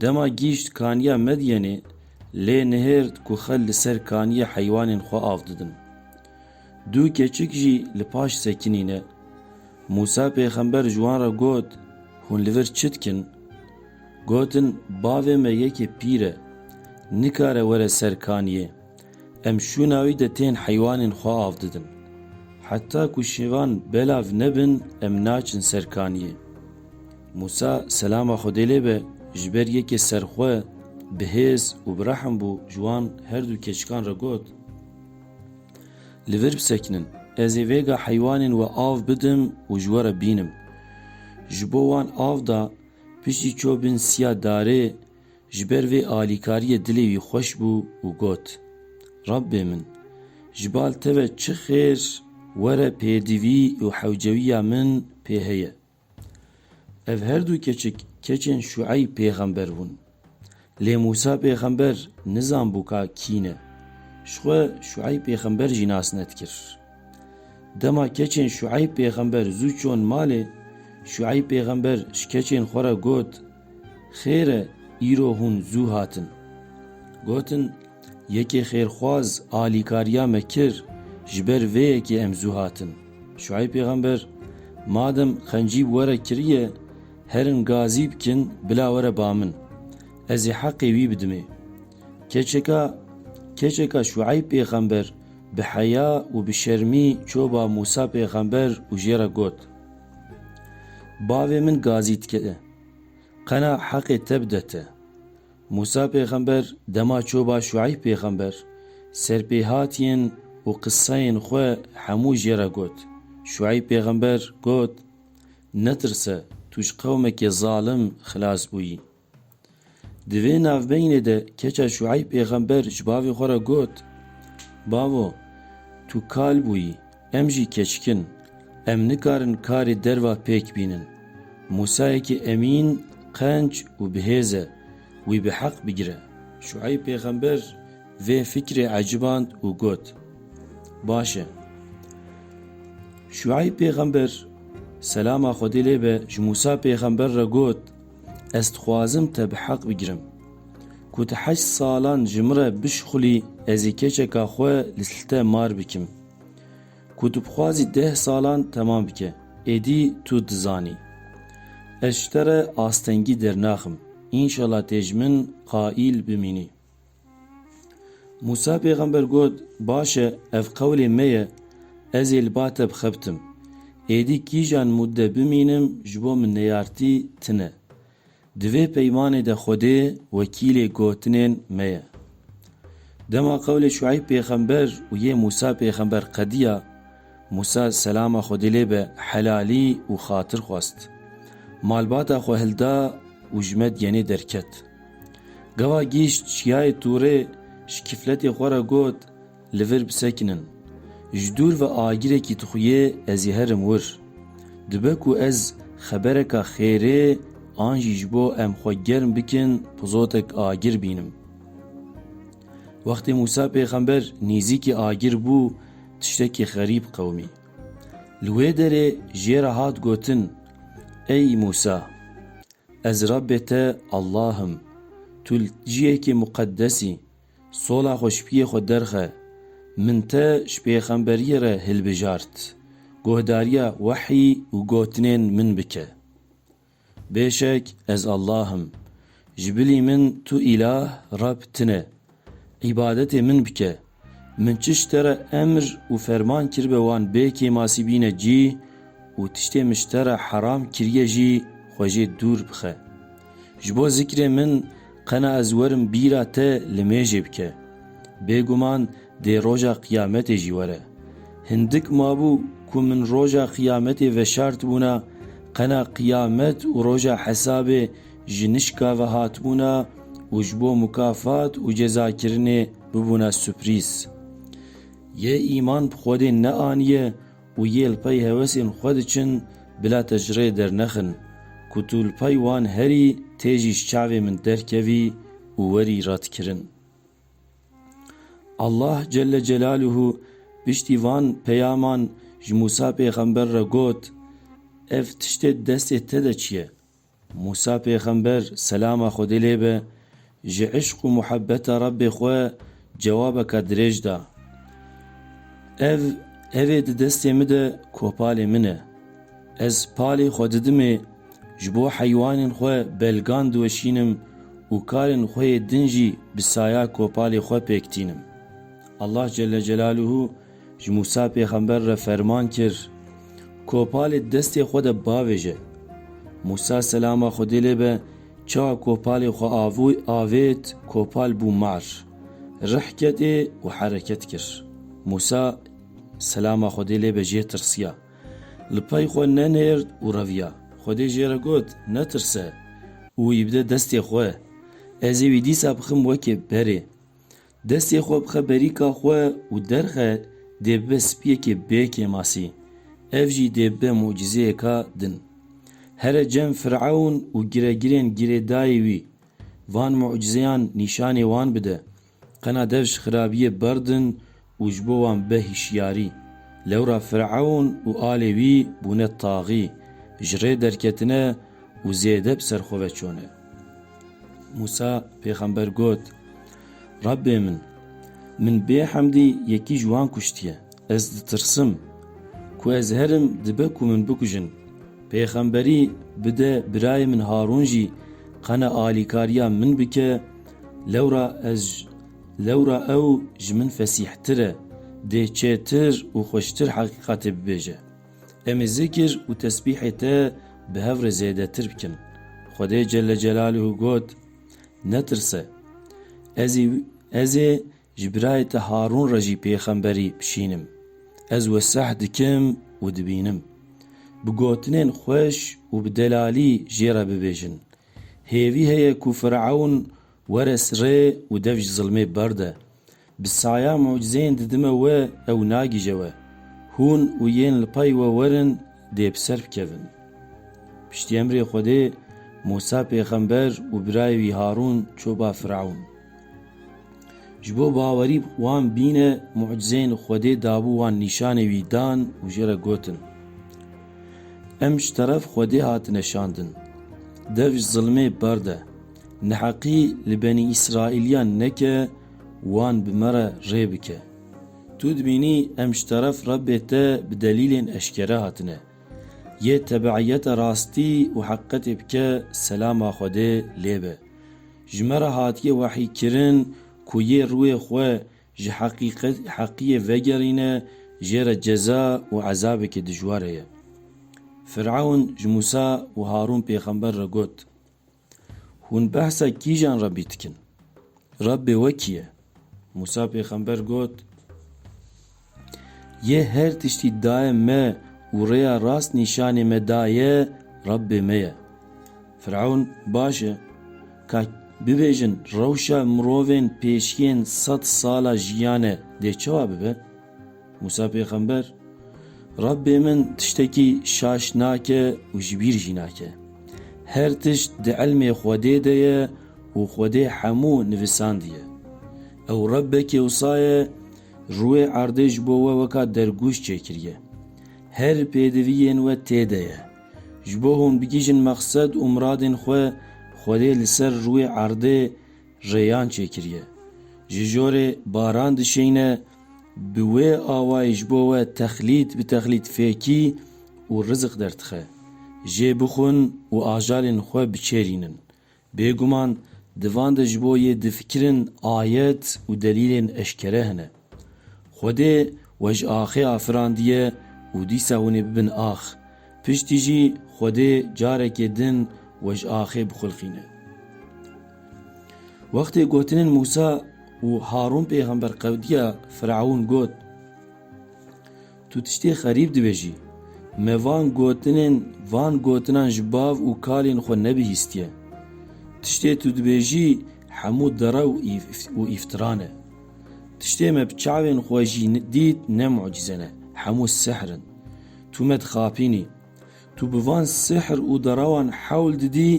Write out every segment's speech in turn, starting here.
Dema gihîşt kaniya Medyenê, lê nihêrt ku xwe li ser kaniyê heywanên xwe av didin. Du keçik jî li paş sekinî ne. Mûsa pêxember ji wan re got, Hûn li vir çi dikin? Gotin, Bavê me yekê pîr e, nikare were ser kaniyê, Em şûna wî de tên heywanên xwe av didin. Heta ku şêvan belav nebin em naçin ser kaniyê. Mûsa selama Xwedê lê be ji ber yekê serxwe, bihêz û bi rehm bû ji wan her du keçikan re got, Li vir bisekinin, ez ê vêga heywanên we av bidim û ji we re bînim. Ji bo wan av da, piştî çû bin siya darê Ji ber vê alîkariyê dilê wî xweş bû û got, Rabbê min! Ji bal te ve çi xêr were pêdivî û hewcewiya min pê heye. Ev her du keçik keçên Şueyb pêxember bûn. Lê Mûsa pêxember nizanbû ka kî ne. Ji xwe Şueyb pêxember jî nas nedkir. Dema keçên Şueyb pêxember zû çûn malê, Şueyb pêxember ji keçên xwe re got, Xêr e îro hûn zû hatin. Gotin, Yekê xêrxwaz alîkariya me kir, ji ber vê yekê em zû hatin. Şueyb pêxember, Madem qencî bi we re kiriye, herin gazî bikin bila were ba min. Ez ê heqê wî bidimê. Keçeka keçeka Şueyb pêxember Bi heya û bi şermî çoba Mûsa pêxember û jê re got, Bavê min gazî dike, qena heqê te bide te. Mûsa pêxember dema çoba Şueyb pêxember ser pê hatiyên û qiseyên xwe hemû jê re got, Şueyb pêxember got, Netirse, tu ji qewmekê zalim xilas bûyî. Di vê navbeynê de keça Şueyb pêxember ji bavê xwe re got, Bavo, tu kal bûyî, em jî keçik in, em nikarin karê derva pêk bînin. Musayekî emîn, qenc û bihêz e, wî bi heq bigire. Şueyb pêxember vê fikrê eciband û got, Baş e. Şueyb pêxember, selama Xwedê lê be, ji Musa pêxember re got, Ez dixwazim te bi heq bigirim. Ku tu heşt salan ji min re bişixulî ezî keçeka xwe li te mar bikim. Ku tu bixwazî deh salan temam bike, êdî tu dizanî. Ez ji te re astengî dernaxim. Înşela tê ji min qaîl bimînî. Mûsa pêxember got, Baş e, ev qewlê me ye, ez ê li ba te bixebitim. Êdî kîjan mûdde bimînim ji bo min neyartî tine. Di vê peymanê de Xwedê wekîlê gotinên me ye. Dema qewlê Şueyb pêxember û yê Mûsa pêxember qediya, Mûsa selama Xwedê lê be helalî û xatir xwest. Malbata xwe hilda û ji me diyenê derket. Gava gihîşt Çiyayê Tûrê ji kîfletê xwe re got, Li vir bisekinin. Ji dûr ve agirekî dixuyê ez ê herim wir. Dibe ku ez xebereka xêrê an jî ji bo em xwe germ bikin pizotek agir bînim. Wextê Mûsa pêxember nêzîkî agir bû tiştekî xerîb qewimî. Li wê derê jê re hat gotin, Ey Mûsa! Ez Rabbê te Allah im, tu li ciyekê muqeddes î, sola xwe ji piyê xwe derxe, min te ji pêxemberiyê re hilbijart, guhdariya wehî û gotinên min bike. Bêşek ez Allah im. Ji bilî min tu îlah, Reb, tune. Îbadetê min bike. Min çi ji te re emr û ferman kiribe wan bê kêmasî bîne cî û tiştê min ji te re heram kiriye jî xwe jê dûr bixe. Ji bo zikrê min qena ez werim bîra te li mêjê bike. Bêguman Dê roja qiyametê jî were. Hindik mabû ku min roja qiyametê veşartibûna, qena qiyamet û roja hesabê ji nişka ve hatibûna û ji bo mukafat û cezakirinê bibûna suprîz. Yê îman bi Xwedê neaniye û yê li pey hewesên xwe diçin bila te ji rê dernexin, ku tu li pey wan herî tê jî ji çavê min derkevî û werî ratkirin. Allah Celle Celaluhu piştî van peyaman ji Mûsa pêxember re got, Ev tiştê di destê te de çi ye? Mûsa pêxember selama Xwedê lê be ji îşq û muhebeta Rebbê xwe cewabeka dirêj da, Ev, ev ê di destê min de kopalê min e. Ez palê xwe didimê ji bo heywanên xwe belgan diweşînim û karên xwe yê din jî bi saya kopalê xwe pêk tînim. Allah Celle Celaluhu ji Mûsa pêxember re ferman kir, Kopalê di destê xwe de bavêje. Mûsa selama Xwedê lê be çawa kopalê xwe avûy avêt kopal bû mar, rih ketê û hereket kir. Mûsa selama Xwedê lê be jê tirsiya. Li pey xwe nenêrd û reviya. Xwedê jê re got, Netirse! Û wî bide destê xwe. Ez ê wî dîsa bixim wekê berê. Destê xwe bixe berîka xwe û derxe dê bibe spiyekê bê kêmasî. Ev jî dê bibe mucîzeyeka din. Here cem Firewn û giregirên girêdayî wî, van mucîzeyan nîşanê wan bide. Qena dev ji xirabiyê berd in û ji bo wan be hişyarî. Lewra Firewn û alê wî bûne taxî, ji rê derketine û zêde bi ser xwe ve çûne. Mûsa pêxember got, Rebbê min! Min bê hemdî yekî ji wan kuştiye. Ez ditirsim. Ku ez herim dibe ku min bikujin. Pêxemberî bide birayê min Harûn jî qena alîkariya min bike, Lewra ez lewra ew ji min fesîhtir e, dê çêtir û xweştir heqîqatê bibêje. Em ê zikr û tesbîhê te bi hev re zêdetir bikin. Xwedê Celle Celaluhu got, Netirse. Ez ê ez ê ji birayê te Harûn re jî pêxemberî bişînim. Ez weseh dikim û dibînim. Bi gotinên xweş û bi delalî jê re bibêjin. Hêvî heye ku Firewn were sirê û dev ji zilmê berde. Bi saya mucizeyên didime we ew nagije we. Hûn û yên li pey we werin dê bi ser bikevin. Piştî emrê Xwedê Mûsa pêxember û birayê wî Harûn çû ba Firewn. Ji bo bawerî wan bîne mucizeyên Xwedê dabû wan nîşanê wî dan û jê re gotin, Em ji teref Xwedê hatine şandin. Dev ji zilmê berd e. Neheqî li benî Îsraîliyan neke wan bi me re rê bike. Tu dibînî em ji teref Rebê te bi delîlên eşkere hatine. Yê tebeîyete rastî û heqîqetê bike selama Xwedê lê be. Ji me re hatiye wehîkirin ku yê rûyê xwe ji heqîqetî vegerîne jê re ceza û ezabekî dijwar heye. Firewn ji Mûsa û Harûn pêxember re got, Hûn behsa kîjan Rebbî dikin? Rebbê we kî ye? Mûsa pêxember got, Yê her tiştî dayê me û rêya rast nîşanê me daye Rabbê me ye. Firewn baş e. Ka bibêjin rewşa mirovên pêşiyên sed sala jiyane dê çawa bibe? Mûsa pêxember, Rabbê min tiştekî şaş nake û ji bîr jî nake. Her tişt di ilmê Xwedê de ye û Xwedê hemû nivisandiye. Ew Rebbekê wisa ye Rûyê erdê ji bo we weka dergûş çêkiriye. Her pêdiviyên we tê de ye. Ji bo hûn bigihîjin mexsed û miradên xwe, Xwedê li ser rûyê erdê rêyan çêkiriye. Ji jorê baran dişêyne, bi wê awayî ji bo we texlît bi texlît fêkî û rizik derdixe. Jê bixwin û ajalên xwe biçêrînin. Bêguman di van de ji bo yê difikirin ayet û delîlên eşkere hene. Xwedê we ji axê afirandiye û dîsa hûn ê bibin ax. Piştî jî Xwedê carekê din we ji axê bixulqîne. Wextê gotinên Mûsa û Harûn pêxember qewdiya Fireûn got. Tu tiştê xerîb dibêjî. Me van gotinên van gotinan ji bav û kalên xwe nebihîstiye. Tiştê tu dibêjî hemû derew û îftira ne. Tiştê me bi çavên xwe jî dît ne mucîze ne, hemû sihr in. Tu me dixapînî. Tu bi van sihr û derewan hewl didî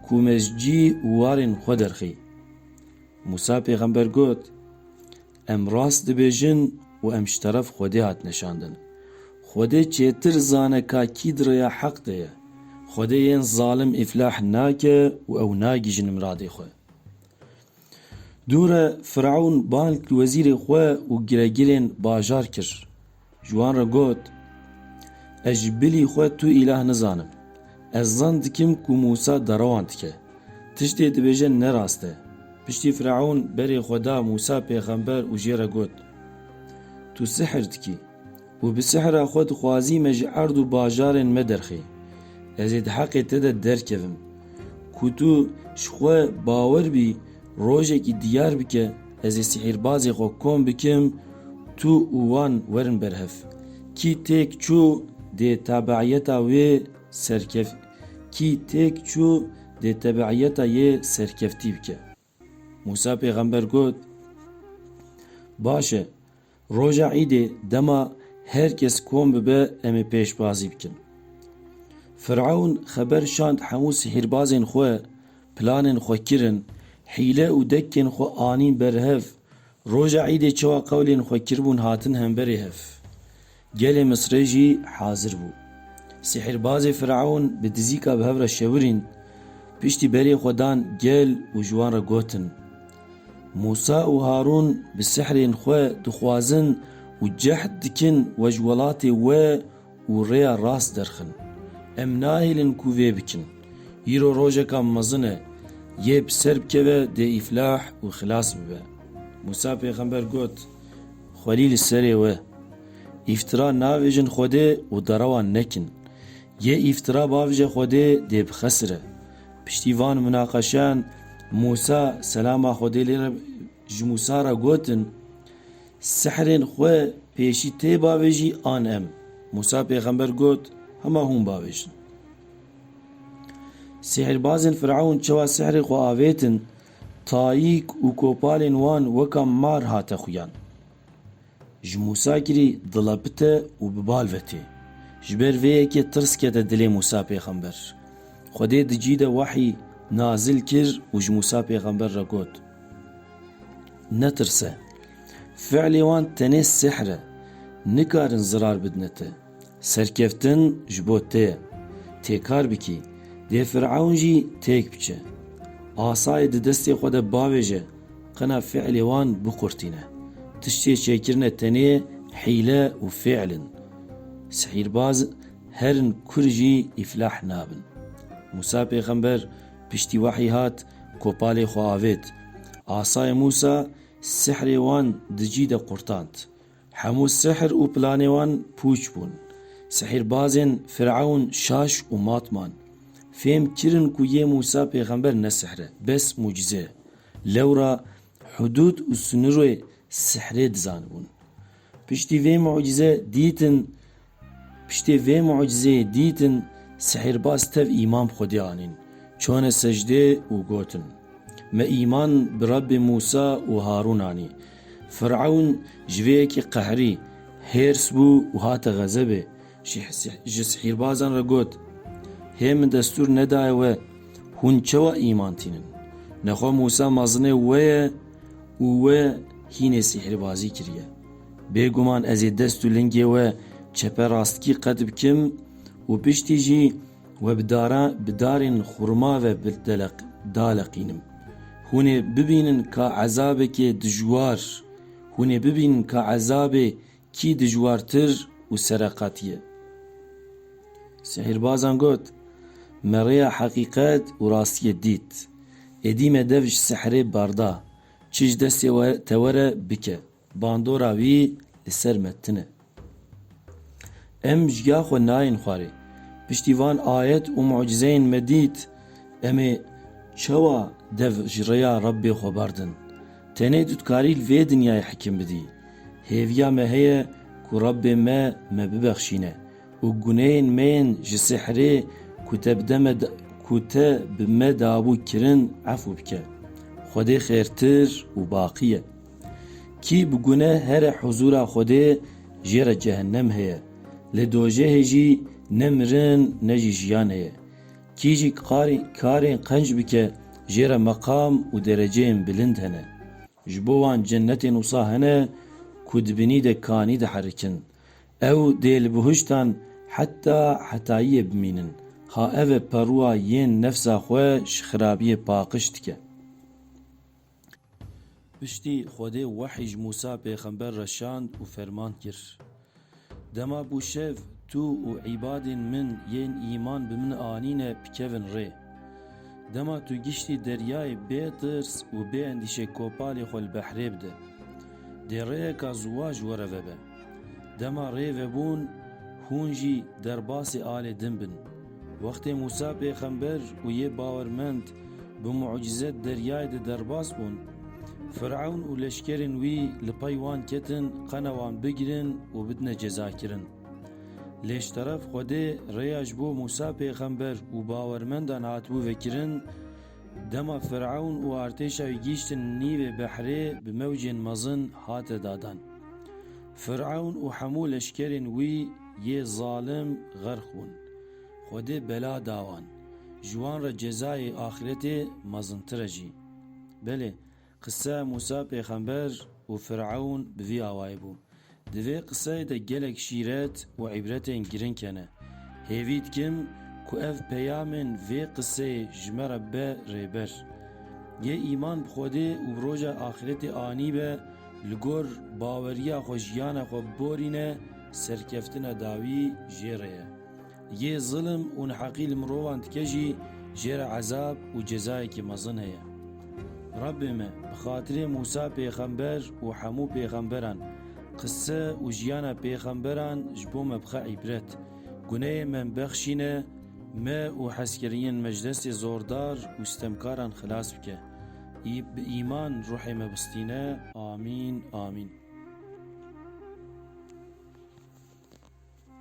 ku me ji cî û warên xwe derxî. Mûsa pêxember got, Em rast dibêjin û em ji teref Xwedê hatine şandin. Xwedê çêtir zane ka kî di rêya heq de ye. Xwedê yên zalim îflah nake û ew nagihîjin miradê xwe. Dûre Firewn bang li wezîrê xwe û giregirên bajar kir. Ji wan re got, Ez ji bilî xwe tu îlah nizanim. Ez zan dikim ku Mûsa derewan dike. Tiştê dibêje ne rast e. Piştî Fireûn berê xwe da Mûsa pêxember û jê re got, Tu sihir dikî û bi sihira xwe dixwazî me ji erd û bajarên me derxî. Ez ê di heqê te de derkevim ku tu ji xwe bawer bî Rojekî diyar bike ez ê sihîrbazê xwe kom bikim, tu û wan werin ber hev. Kî têk çû dê tabeîyeta wê serkev kî têk çû dê tebeîyeta yê serkeftî bike. Mûsa pêxember got, Baş e. Roja îdê dema her kes kom bibe em ê pêşbazî bikin. Firewn xeber şand hemû sihîrbazên xwe, planên xwe kirin, hîle û dekkên xwe anîn ber hev, roja îdê çawa qewlên xwe kiribûn hatin hemberê hev. Gelê Misrê jî hazir bû. Sihîrbazê Firewn bi dizîka bi hev re şewirîn, piştî berê xwe dan gel û ji wan re gotin, Mûsa û Harûn bi sihrên xwe dixwazin û cehd dikin we ji welatê we û rêya rast derxin. Em nahêlin ku vê bikin. Îro rojeka mezin e. Yê bi ser bikeve dê îflah û xilas bibe. Mûsa pêxember got, Xwelî li serê we. Îftira navêjin Xwedê û derewan nekin. Yê îftira bavije Xwedê dê bixesire. Piştî van munaqeşeyan Mûsa selama Xwedê lê re ji Mûsa re gotin, Sihrên xwe pêşî tê bavêjî an em? Mûsa pêxember got, Hema hûn bavêjin. Sihrbazên Firewn çawa sihrê xwe avêtin, tayîk û kopalên wan weka mar hate xuyan. Ji Musakirî dila pite û bi bal ve tê. Ji ber vê yekê tirs kete dilê Musa pêxember. Xwedê di cî de wehî nazil kir û ji Musa pêxember re got, Netirse. Fiilê wan tenê sihr e. Nikarin zirar bidine te. Serkeftin ji bo te ye. Têkar bikî, dê Firewn jî têk biçe. Asayê di destê xwe de bavêje, qina fîlê wan biqurtîne. Tiştê çêkirine tenê hîle û fîl in. Sihîrbaz herin kur jî îflah nabin. Mûsa pêxember piştî wehî hat, kopalê xwe avêt. Asayê Mûsa sihrê wan di cî de qurtand. Hemû sihr û planê wan pûç bûn. Sihîrbazên Firewn şaş û mat man. Fêm kirin ku yê Mûsa pêxember ne sihr e, bes mucize ye. Lewra hudûd û sinirê sihrê dizanibûn. Piştî vê mucize dîtin Piştê vê mucizeyê dîtin sihîrbaz tev îman bi Xwedê anîn, çone secdê û gotin, Me îman bi Rebbê Mûsa û Harûn anî. Firewn ji vê yekê qehrî, hêrs bû û hate xezebê, ji sihîrbazan re got, Hê min destûr nedaye we, hûn çawa îman tînin? Nexwe Mûsa mezinê we ye û we hînê sihîrbazî kiriye. Bêguman ez ê dest û lingê we çepe rastkî qet bikim û piştî jî we bi dara bi darên xurma ve daleqînim. Hûn ê bibînin ka ezabekê dijwar, hûn ê bibînin ka ezabê kî dijwartir û sereqat ye. Sehirbazan got, Me rêya heqîqet û rastiyê dît. Êdî me dev ji sehrê barda. Çi ji destê te were bike. Bandora wî li ser me tin e. Em ji ya xwe nayên xwarê. Piştî van ayet û mucîzeyên me dît, em ê çawa dev ji rêya Rebbê xwe berdin? Tenê tu dikarî li vê dinyayê hikim bidî. Hêviya me heye ku Rebbê me me bibexşîne û guneyên me yên ji sihirê ku te bi de me ku te bi me dabû kirin efû bike. Xwedê xêrtir û baqî ye. Kî bi gune here huzûra Xwedê jê re cehennem heye. Li dojehê jî ne mirin ne jî jiyan heye. Kî jî karên qenc bike jê re meqam û dereceyên bilind hene. Ji bo wan cennetên wisa hene ku di binî de kanî diherikin. Ew dê li bihuştan heta hetayiyê bimînin. Ha ev e perûa yên nefsa xwe ji xirabiyê paqiş dike. Piştî Xwedê wehî ji Mûsa pêxember re şand û ferman kir, Dema bû şev, tu û îbadên min yên îman bi min anîne bikevin rê. Dema tu giştî deryayê bê tirs û bê endîşe kopalê xwe li behrê bide. Dê rêyeka ziwa ji we re vebe. Dema rê vebûn hûn jî derbasê alê din bin. Wextê Mûsa pêxember û yê bawermend bi mucîze di deryayê de derbas bûn, Firewn û leşkerên wî li pey wan ketin qena wan bigirin û bidine cezakirin. Lê ji teref Xwedê rêya ji bo Mûsa pêxember û bawermendan hatibû vekirin, Dema Firewn û artêşa wî gihîştin nîvê behrê bi mewcên mezin hate dadan. Firewn û hemû leşkerên wî yê zalim xerq bûn. Xwedê bela da wan. Ji wan re cezayê axîretê mezintir e jî. Belê, Qise Mûsa pêxember û Firewn bi vî awayî bû. Di vê qiseyê de gelek şîret û îbretên girîng hene. Hêvî dikim ku ev peyamên vê qiseyê ji me re be rêber. Yê îman bi Xwedê û bi roja axîretê anî be, li gor baweriya xwe jiyana xwe biborîne, serkeftina dawî jê re ye. Yê zilm û neheqî li mirovan dike jî jê re ezab û cezayekî mezin heye. Rabbê me, bi xatirê Mûsa pêxember û hemû pêxemberan, qise û jiyana pêxemberan ji bo me bixe îbret, guneyên me bexşîne, me û hezkirinên me ji destê zordar û sitemkaran xilas bike. Bi îman ruhê me bistîne. Amîn. Amîn.